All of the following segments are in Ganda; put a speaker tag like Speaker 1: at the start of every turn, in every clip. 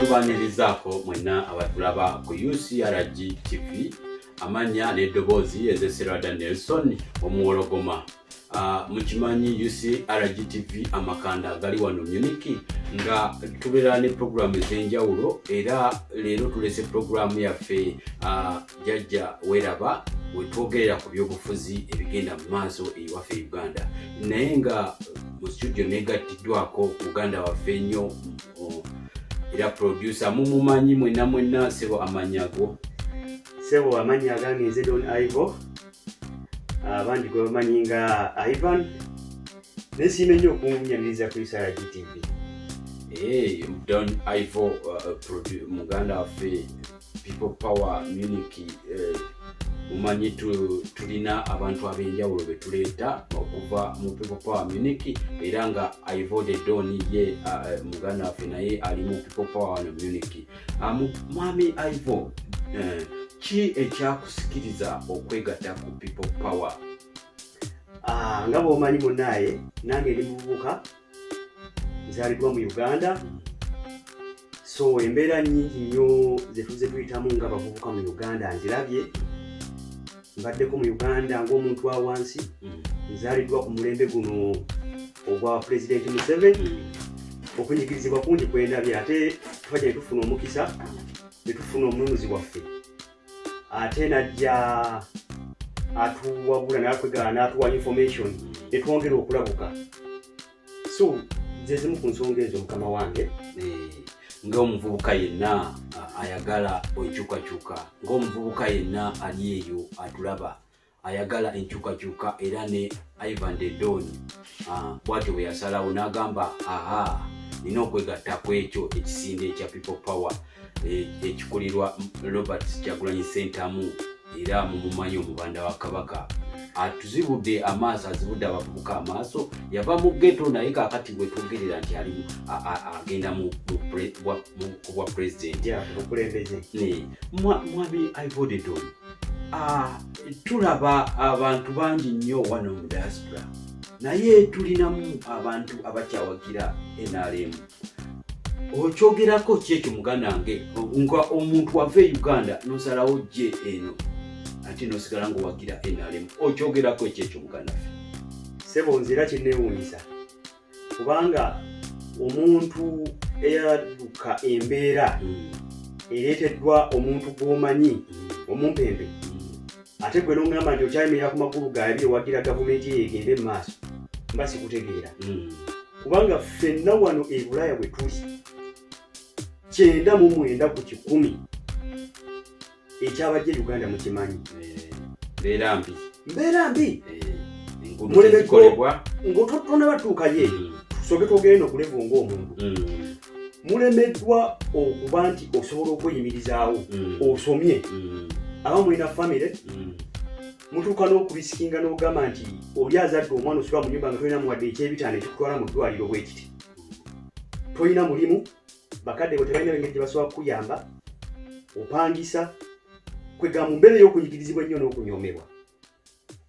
Speaker 1: tubanirizaako mwenna abatulaba ku ucrg tv amannya n'eddoboozi ezeserada nelson omuwologoma Ah, mukimanyi ucrgtv amakanda gali wano muniki nga tubeera ne puroguramu ez'enjawulo era leero tulese puroguramu yaffe ah, jajja weraba wetwogerera ku byobufuzi ebigenda mu maaso eyiwaffe e uganda naye nga mu studio negattiddwako muganda waffe ennyo era producer mumumanyi mwena mwena sebo amanyago sebo
Speaker 2: amanyi agange nze don ivo abandi gwe bamanyi nga ivan naye siima ennyo okunyaniriza ku isara gtv eh,
Speaker 1: don ivo uh, uh, muganda waffe people power muniki eh, mumanyi tulina abantu ab'enjawulo be tuleeta okuva mu people power muniki era nga ivode don ye eh, muganda waffe naye ali mu people power wano muniki ah, mwami ivo eh, ki ekyakusikiriza okwegatta ku people power
Speaker 2: Ah, nga bwomanyi munaye nange ndi muvubuka nzaliddwa mu uganda so embeera nyingi nnyo zetuze tuyitamu nga bavubuka mu uganda nzirabye mbaddeko mu uganda ngaomuntu wa wansi mm. nzaliddwa ku mulembe guno ogwa pulezidenti museveni mm. okunyigirizibwa kungi kwendabye ate tuba gye netufuna omukisa netufuna omununuzi waffe ate najja atuwabula natwegala natuwa information netwongera okulabuka so zezimu ku nsonga ezo mukama wange eh,
Speaker 1: ngaomuvubuka yenna ayagala enkyukakyuka ngaomuvubuka yenna ali eyo atulaba ayagala enkyukakyuka era ne Ivan de Don ah, bwatyo bwe yasalawo n'agamba aha nina okwegatta ku ekyo ekisinde ekya people power eh, ekikulirwa Robert Kyagulanyi Sentamu era mumumanyi omubanda wa Kabaka atuzibudde amaaso azibudde abavubuka amaaso yava mu geto naye kakati bwetwogerera nti ali agenda kubwa pulezidenti mwami ivodedon tulaba abantu bangi nnyo wano mu diaspora naye tulinamu abantu abakyawagira nrm okyogerako kyekyo muganda wange nga omuntu wava e uganda nosalawo je eno ate nosigala ngaowagira nrm okyogerako ekyekyo muganda fe sebo nze era
Speaker 2: kinewuunyisa kubanga omuntu eyadduka embeera hmm. ereeteddwa omuntu gw'omanyi hmm. omumpembe hmm. ate gwe n'omugamba nti okyayimirira ku magulu gaabi ewagira gavumenti eyo egende mu maaso mba sikutegeera kubanga ffenna wano e bulaaya bwe tuli kyenda mu mwenda ku kikumi ekyabajja e uganda mukimanyi eh, mbeera mbi mbeera mbi eh, mulemekolebwa ngaotonabatuukayo eyo hmm. tusoke twogere nokulevu ngaomuntu hmm. mulemeddwa okuba nti osobola okweyimirizaawo hmm. osomye aba mulina famire mutuuka n'okubisikinga n'ogamba nti oli azadde omwana osula mu nyumba nga tolina muwadde ekyebitaano ekikutwala mu ddwaliro bwekiti tolina mulimu bakadde bo tebalina engeri gye basobola kukuyamba opangisa kwegamba mu mbeera ey'okunyigirizibwa ennyo n'okunyoomebwa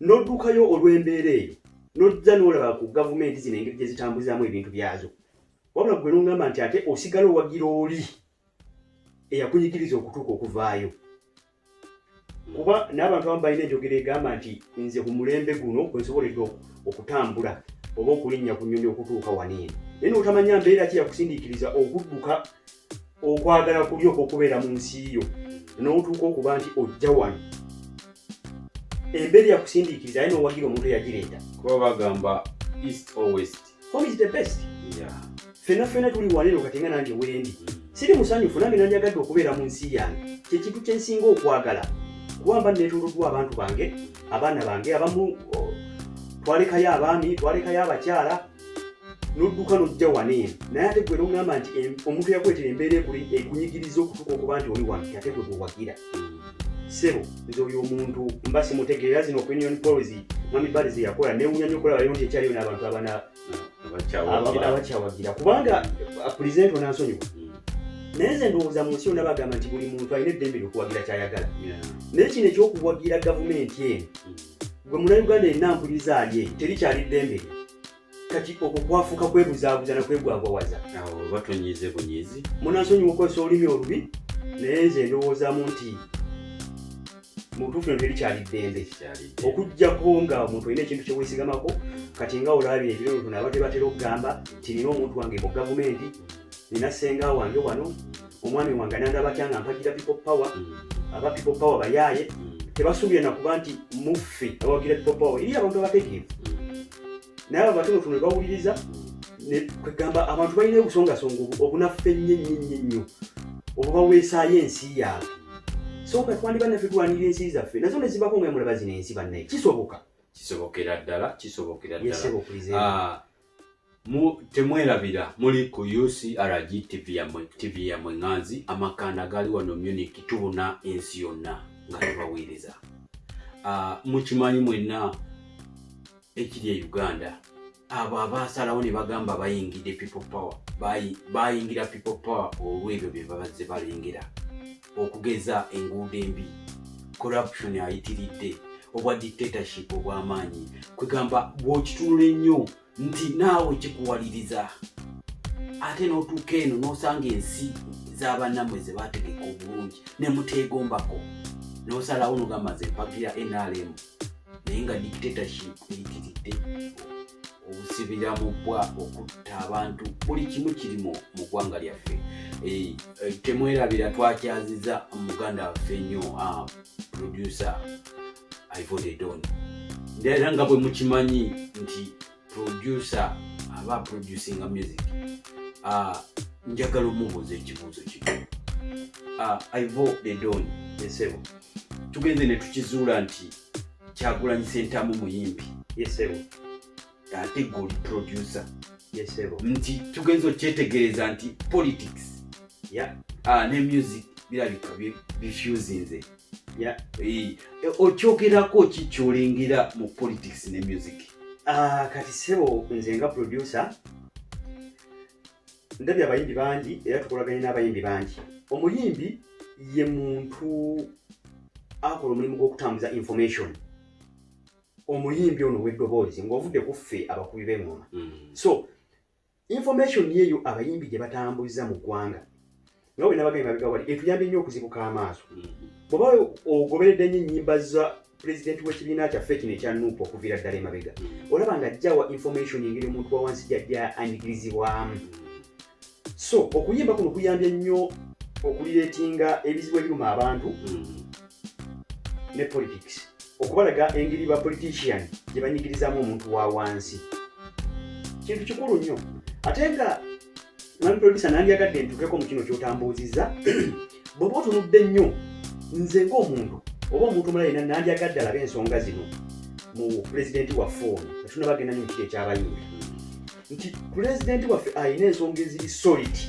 Speaker 2: n'oddukayo olw'embeera eyo n'ojja n'olaba ku gavumenti zino engeri gye zitambuzaamu ebintu byazo wabula gwe n'ongamba nti ate osigala owagira oli eyakunyigiriza okutuuka okuvaayo kuba n'abantu abamu balina enjogera egamba nti nze ku mulembe guno kwe nsoboledde okutambula oba okulinnya ku nnyonyi okutuuka waniino naye notamanya mbeera ki yakusindiikiriza okudduka okwagala kuli okwokubeera mu nsi yo n'otuuka okuba nti ojja wano embeera yakusindiikiriza aye nowagira omuntu eyagireeta kuba bagamba
Speaker 1: east or west Home is the best.
Speaker 2: Yeah. Fena fena tuli waneno katenga nange wendi. Siri musanyufu nange nange agadde okubeera mu nsi yange. Kye kintu kye nsinga okwagala. Kuba mba neetooloddwa abantu bange, abaana bange abamu oh, twalekayo abaami, twalekayo abakyala nodduka nojja wano eno naye ate gwe nogamba nti omuntu yakuletera embeera ekunyigiriza okutuka okuba nti oli wano ate gwe gwewagira sebo nze oyo omuntu mba simutegeera zino opinion polls mami bali zeyakola newunya nyo okulaba yonti ekyaliyo n'abantu abana abakyawagira kubanga uh, present onansonyiwa mm. naye nze ndowooza mu nsi yonna bagamba nti buli muntu alina eddembe lyokuwagira kyayagala naye kino ekyokuwagira gavumenti eno mm. gwe muna uganda enampuliriza ali eyo terikyali ddembe kati okwo kwafuuka kwebuzaabuza nakwegwagwawaza awo batonyize
Speaker 1: bunyizi munansonyi mukozesa
Speaker 2: olulimi olubi naye nze ndowoozamu nti mubutuufu nti erikyali ddembe okujjako nga omuntu olina ekintu kyewesigamako kati nga olabye ebirooto naba tebatera okugamba nti nina omuntu wange mu gavumenti nina senga wange wano omwami wange nandaba atya nga mpagira people power mm. aba people power bayaaye mm. tebasuubira nakuba nti muffe abawagira people power eri abantu abategeevu mm. naye abo batonotono ne bawuliriza kwegamba abantu balina obusongasonga obunaffe ennyo ennyo ennyo ennyo obwo baweesaayo ensi yaabwe soka twandiba naffe tulwanirira ensi zaffe nazo ne zibako nga mulaba zino ensi bannaye kisoboka kisobokera
Speaker 1: ddala kisobokera ddala ah, temwerabira muli ku ucrg tv yamwe tv yamwe nganzi amakanda gali wano muniki tubuna ensi yonna nga tubaweereza ah, mukimanyi mwenna ekiri e uganda abo abaasalawo ne bagamba bayingidde people power bayingira people power olw'ebyo bye babazze balengera okugeza enguudo embi corruption ayitiridde obwa dictatorship obw'amaanyi kwegamba bw'okitunula ennyo nti naawe kikuwaliriza ate n'otuuka eno n'osanga ensi z'abannamwe ze baategeka obulungi ne muteegombako nosalawo nogamba nze mpagira nrm naye nga dictatorship eyitiridde obusibira mu bwa okutta abantu buli kimu kiri mu ggwanga lyaffe eh, eh, temwerabira twakyaziza muganda waffe nnyo ah, producer ivode don era nga bwe mukimanyi nti producer aba producinga music uh, njagala omubuuza ekibuuzo kino uh, ah, ivo the don esebo tugenze ne tukizuula nti kyagulanyi sentamu muyimbi yesebo ate goli producer yesebo nti tugenze okyetegereza nti politics yeah. uh, ne music birabika bifusinze yeah. e, okyogerako ki kyolengera mu politics ne music uh, kati sebo nze nga producer ndabye abayimbi bangi era tukolaganye n'abayimbi bangi omuyimbi ye muntu akola omulimu gw'okutambuza information omuyimbi ono weddoboozi ng'ovudde kuffe abakubi b'engoma mm. so information yeyo abayimbi gye batambuliza mu ggwanga nga bwe nabagambye mabega wali etuyambye nnyo okuzibuka amaaso mm-hmm. bw'oba ogoberedde nnyo ennyimba za pulezidenti w'ekibiina kyaffe kino ekya nuupu okuviira ddala emabega mm-hmm. olaba nga ajjawa information engeri omuntu wa wansi gyajja anyigirizibwamu mm-hmm. so okuyimba kuno kuyambye nnyo okulireetinga ebizibu ebiruma abantu ne politics okubalaga engeri ba politician gye banyigirizamu omuntu wa wansi kintu kikulu nnyo ate nga mwami producer nandyagadde ntukeko mu kino kyotambuuzizza bweoba otunudde nnyo nze ngaomuntu oba omuntu omulala yena nandyagadde alabe ensonga zino mu pulezidenti waffe ono atuna bagenda nyo mukiti ekyabayinga nti pulezidenti waffe alina ensonga eziri soliti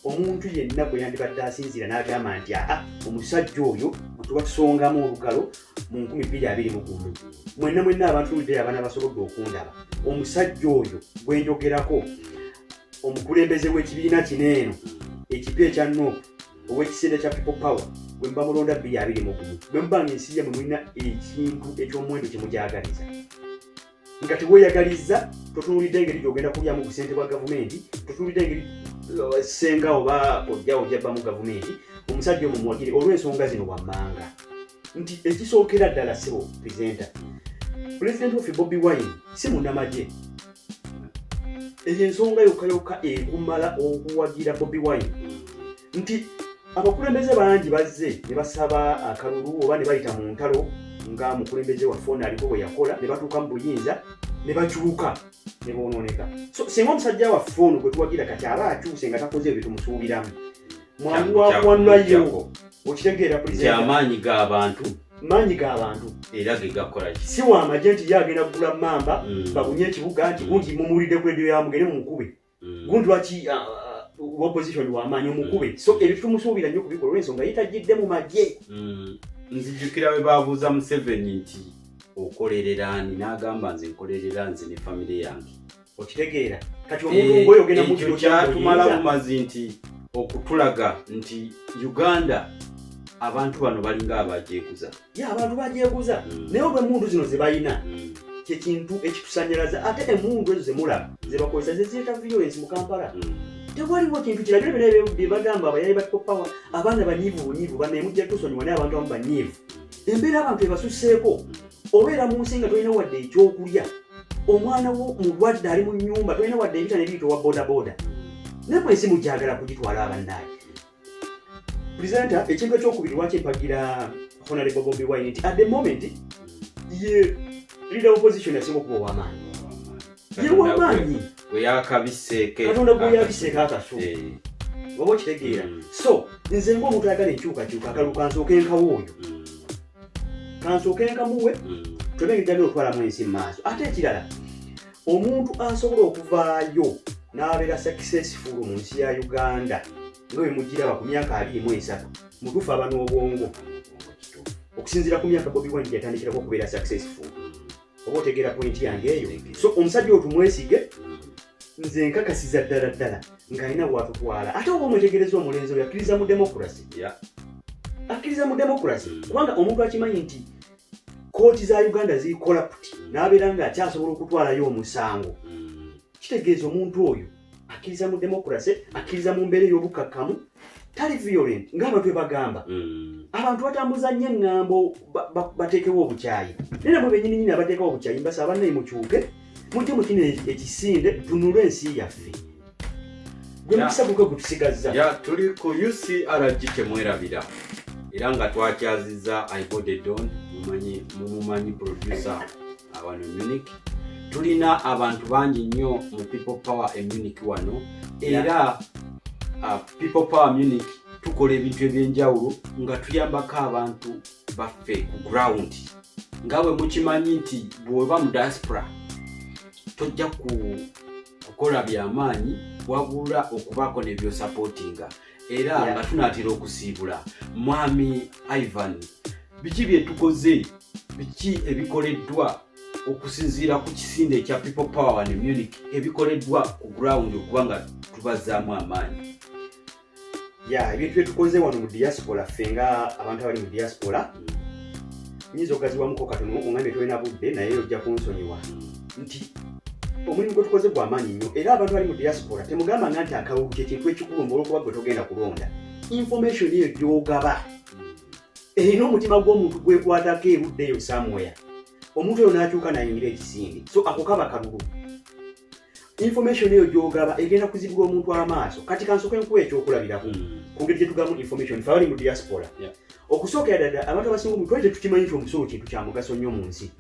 Speaker 1: omuntu yenna gwe yandibadde asinziira n'agamba nti aa omusajja oyo mutuba tusongamu olugalo mu nkumi bbiri abiri mu gumu mwenna mwenna abantu ludeyo abaana basobodde okundaba omusajja oyo gwe njogerako omukulembeze w'ekibiina kino eno ekipya ekya nup ow'ekisinde kya people power bwe muba mulonda bbiri abiri mu gumu bwe muba nga ensi yamwe mulina ekintu eky'omuwendo kye mugyagaliza nga teweeyagalizza totunuulidde engeri gyogenda kulyamu busente bwa gavumenti totunuulidde engeri eh, senga oba ojjawo jabbamu gavumenti omusajja omu muwagire olw'ensonga zino wammanga nti ekisookera ddala sibo presenta pulezidenti waffe bobi wine si munamagye eyo ensonga yokka yokka ekumala okuwagira bobi wine nti abakulembeze bangi bazze ne basaba akalulu oba ne bayita mu ntalo nga mukulembeze waffe ono aliko bwe yakola ne batuuka mu buyinza ne bakyuka ne bonooneka so singa omusajja waffe ono gwe tuwagira kati aba akyuse nga takoze ebyo tumusuubiramu mwangu wakuwanulayo okitegeera amaanyi g'abantu maanyi ga bantu
Speaker 2: era ge gakola ki si wa amagye nti ye agenda kugula mamba mm. babunye ekibuga nti bungi mumuwulidde ku ediyo yamugere mumukube mm. gundi lwaki uh, uh, opposition wamaanyi omukube mm. so ebyo tumusuubira nnyo kubikola olwensonga yetagidde mu magye mm. nzijukira
Speaker 1: bwe babuuza museveni nti okolerera ani n'agamba nze nkolerera nze ne famire yange
Speaker 2: okitegeera kati omuntu eh, ngoyo ogenda mukyo kyatumala bumazi
Speaker 1: nti okutulaga nti uganda abantu bano balinga abajeguza abantu bagyeguza
Speaker 2: hmm. naye olwa emundu zino zebalina hmm. kyekintu ekitusanyalaza ate emundu ezo zemulaba zebakozesa zeziyeta violence mu kampala hmm. tewaliwo kintu kirabira byona byebagamba abayali bakopawa abaana banyivu bunyivu banaye mujja tusonyiwa naye abantu amu banyivu embeera abantu ebasuseeko obeera mu nsi nga tolina wadde ekyokulya omwana wo mulwadde ali mu nyumba tolina wadde ebita nebiitowa bodaboda naye mwensi mujagala kugitwala abanaaye presenter ekintu ekyokubiri lwaki mpagira honorable bobi wine nti at the moment ye leader opposition yasinga okuba owamaanyi ye wamaanyi
Speaker 1: katonda gweyabiseko
Speaker 2: akaso eh. oba okitegeera hmm. so nze ngaomuntu ayagala enkyukakyuka akalu kansooka enkawo oyo hmm. kansooka enkamuwe hmm. twenegejjana otwalamu ensi mu maaso ate ekirala omuntu asobola okuvaayo n'abeera sakisesifulu mu nsi ya uganda nga bwe mugiraba ku myaka abiri mu esatu mutuufu aba n'obwongo okusinziira ku myaka bobi wine gyatandikirako okubeera sakisesifulu oba otegeera pointi yange eyo so omusajja otumwesige nze nkakasiza ddala ddala ng'alina watutwala ate oba omwetegereza omulenzi oyo akkiriza mu demokrasi akkiriza mu demokrasi kubanga omuntu akimanyi nti kooti za uganda ziri corrupt n'abeera nga akyasobola okutwalayo omusango hmm. kitegeeza omuntu oyo akkiriza mu democracy akkiriza mu mbeera ey'obukakkamu tali violent ng'abantu ebagamba hmm. abantu batambuza nnyo eŋŋambo bateekewo obukyayi naye namwe benyini nyini abateekawo obukyayi mbasa abanaye mukyuke mujje mukino ekisinde tunule ensi yaffe gwe mukisa gukwe gutusigazza ya tuli ku
Speaker 1: ucrg temwerabira era nga twakyazizza ibodedon mumanyi mumumanyi producer awano munich tulina abantu bangi nnyo mu people power e munich wano era uh, people power munich tukola ebintu ebyenjawulo nga tuyambako abantu baffe ku ground nga bwe mukimanyi nti bw'oba mu diaspora tojja ku kukola byamaanyi wabula okubaako nebyosapootinga era yeah. nga tunaatera okusiibula mwami ivan biki bye tukoze biki ebikoleddwa okusinziira ku kisinde ekya people power ne munic ebikoleddwa ku ground okuba nga tubazaamu amaanyi
Speaker 2: ya ebintu byetukoze wano mu diaspora ffe nga abantu abali mu diaspora nyinza okugaziwamuko katono ongambye tolina budde naye ojja kunsonyiwa nti omulimu gwe tukoze gwa maanyi nnyo era abantu bali mu diaspora temugamba nga nti akalulu kyekintu ekikulu mba olwokuba gwe togenda kulonda information eyo gyogaba erina omutima gw'omuntu gwekwatako erudde eyo samwea omuntu oyo n'akyuka nayingira ekisinde so ako kaba kalulu information eyo gyogaba egenda kuzibula omuntu amaaso kati kansoke nkuwa ekyokulabirako hmm. kungeri gyetugamu information fe abali mu diaspora okusookera dada abantu abasinga omu twali tetukimanyi nti omusolo kintu kya mugaso nnyo mu nsi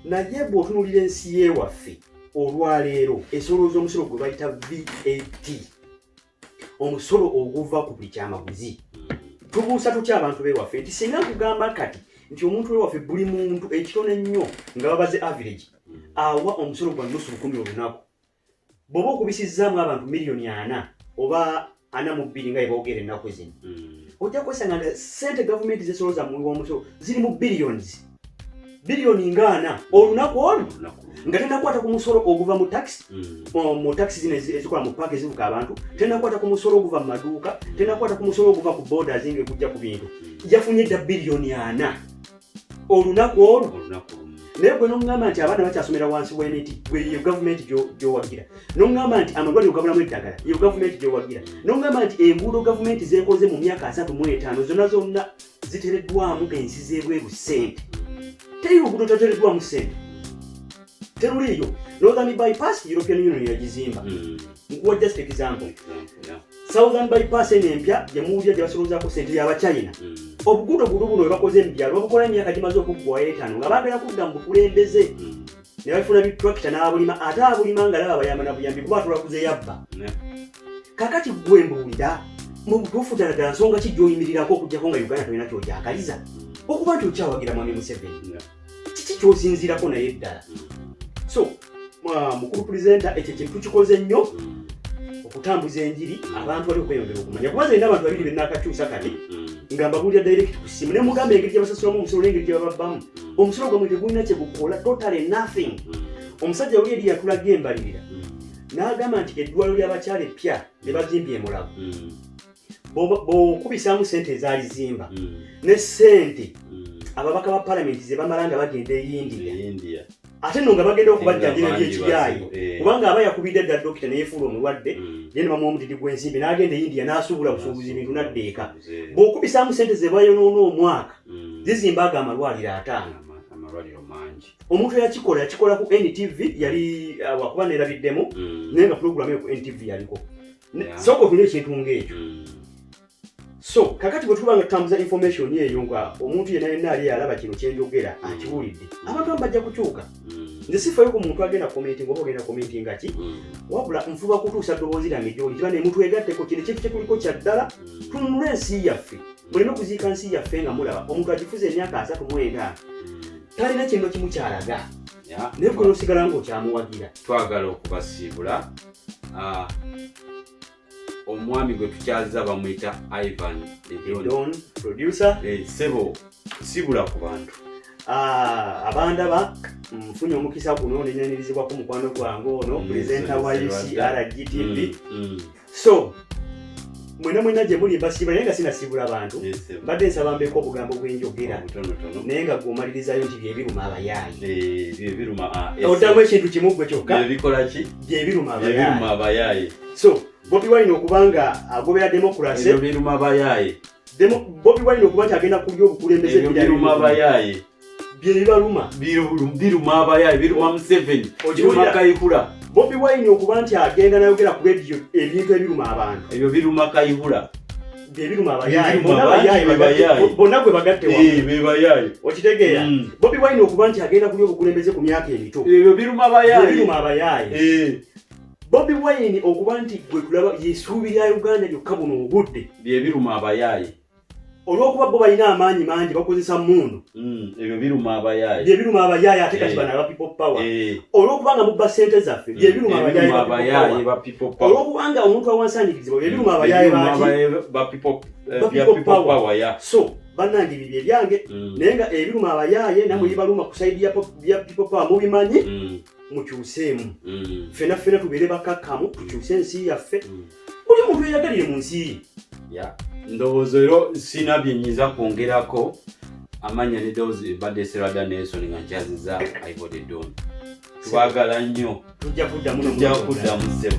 Speaker 2: naye bw'otunulira ensi yewaffe olwaleero esolooza omusolo gwe bayita vat omusolo oguva ku buli kyamaguzi tubuusa tutya abantu bewaffe nti singa nkugamba kati nti omuntu wewaffe buli muntu ekitono ennyo nga babaze average awa omusolo gwa nusu lukumi olunaku bwoba okubisizzaamu abantu miliyoni ana oba ana mu bbiri nga yeboogera ennaku zino hmm. ojja kwesanga nga sente gavumenti zesoloza muwi womusolo ziri mu billions biliyoni nga ana olunaku olu nga tenakwata ku musolo oguva mu taxi mm. mu taxi zino ezikola mu paaka ezivuka abantu tenakwata ku musolo oguva mu maduuka tenakwata ku musolo oguva ku boda zinga ekujja ku bintu mm. yafunye dda biliyoni ana olunaku olwo naye gwe nomugamba nti abaana bakyasomera wansi wemiti gwe yo gavumenti gyowagira nomugamba nti amalwaliro gabulamu eddagala yo gavumenti gyowagira nomugamba nti enguudo gavumenti zekoze mu myaka asatu mu etaano zona zonna zitereddwamu ensi z'ebweru ssente teri luguudo tatereddwamu ssente teruliiyo northern bypass european union yagizimba hmm. nkuwa just example southern bypass eno empya gyemuwulira gyebasoloozaako ssente yabachina hmm. obuguudo guno buno webakoze mu byalo babukola emyaka gimaze okuggwayo etaano nga baagala kudda mu bukulembeze hmm. ne bafuna bitrakita n'abulima ate abulima nga laba bayamba na buyambi kuba atula kuze yabba kakati gwe mbuulira mu butuufu ddala ddala nsonga ki gy'oyimirirako okuggyako nga uganda tolina kyogyagaliza okuba nti okyawagira mwami museveni kiki kyosinziirako naye ddala so mukulu pulezenta ekyo kintu kikoze nnyo mm. okutambuza enjiri abantu bali okweyongera okumanya kuba zalina abantu babiri benakakyusa kati mm. nga mbabuulira direct ku ssimu ne mugamba engeri gyabasasulamu omusolo n'engeri gyebababbamu mm. omusolo gwamwe tegulina kyegukola totally nothing mm. omusajja oli eri yatulaga embalirira mm. n'agamba nti eddwaliro ly'abakyala eppya lye bazimbye emulago mm. bokubisaamu sente ezaali zimba ne sente ababaka ba palamenti ze bamala nga bagenda e india ate no nga bagenda okubajjanjira byekiyaayi eh. kubanga aba yakubidde dda dokita neyefuula omulwadde naye ne bamuwa omutiti gw'ensimbi n'agenda e india n'asuubula busuubuzi bintu naddeeka bw'okubisaamu sente ze bayonoona omwaka mm. zizimba ago amalwaliro ataano amalwaliro mangi omuntu yakikola yakikola ku ntv yali uh, wakuba nerabiddemu mm. naye nga pulogulamu eyo ku ntv yaliko sooka otunye ekintu ngaekyo mm. so kakati bwe tuba nga tutambuza information eyo nga omuntu yena yena ali alaba kino kyenjogera akiwulidde abantu amu bajja kukyuka nze sifayo ku muntu agenda commenting oba ogenda commenting nga ki mm. wabula nfuba kutuusa ddoboozi lyange gyoli kiba nemutwegatteko kino ekintu kyekuliko kyaddala mm. tununula ensi yaffe muleme kuziika nsi yaffe nga mulaba omuntu agifuza emyaka asatu mwenda talina kintu kimu kyalaga naye kuno osigala nga okyamuwagira twagala
Speaker 1: okubasiibula ah, omwami gwe tukyaziza bamuyita ivan edon
Speaker 2: producer eh, sebo
Speaker 1: sibula ku bantu Ah,
Speaker 2: abandaba nfunye omukisa guno nenyanyirizibwako mukwano gwange ono mm, presenta wa ucrgtv mm, mm. so mwena mwena gye muli mbasiima naye nga sinasiibula bantu mbadde nsaba mbeeko obugambo bwenjogera naye nga gwomalirizayo nti byebiruma abayaayi eh, ah, oddamu ekintu kimu gwe kyokka byebiruma abayaayi
Speaker 1: so bobi
Speaker 2: wine okuba nga agobera democracy
Speaker 1: bobi
Speaker 2: wine okuba nti agenda kulya obukulembeze biruma abayaayi
Speaker 1: byebibaluma biruma abayaye biruma museveni biruma kayihura bobi wine okuba
Speaker 2: nti agenda nayogera ku rediyo ebintu ebiruma abantu ebyo biruma kayihura bonna gwe bagattebebayaye
Speaker 1: okitegeera
Speaker 2: bobi wine okuba nti agenda kulya obukulembeze ku myaka emito ebyo biruma
Speaker 1: abayaye eh. bobi
Speaker 2: wine okuba nti gwe tulaba yesuubi lya uganda lyokka buno obudde byebiruma abayaye
Speaker 1: olwokuba
Speaker 2: bo balina amaanyi mangi bakozesa mundu mm, ebyo biruma
Speaker 1: abayaaye bye biruma abayaaye ate kati
Speaker 2: eh. bana aba people power eh. olwokuba nga mubba sente zaffe bye mm, biruma abayaaye ba
Speaker 1: people power olwokuba nga omuntu
Speaker 2: awansanyikirizibwa bye biruma mm, abayaaye ba people power
Speaker 1: eh, so banange
Speaker 2: bibye byange naye nga ebiruma abayaaye namwe bibaluma ku saidi ya people power mubimanyi mukyuseemu ffena ffena tubeere bakakkamu tukyuse ensi yaffe buli muntu eyagalire mu nsi ye ndowooza ero
Speaker 1: sina byenyiza kwongerako amanya ne dowooza ebadde serada nelson nga nkyaziza aibode don twagala nnyo tujja kuddamu tujja
Speaker 2: kuddamu sebo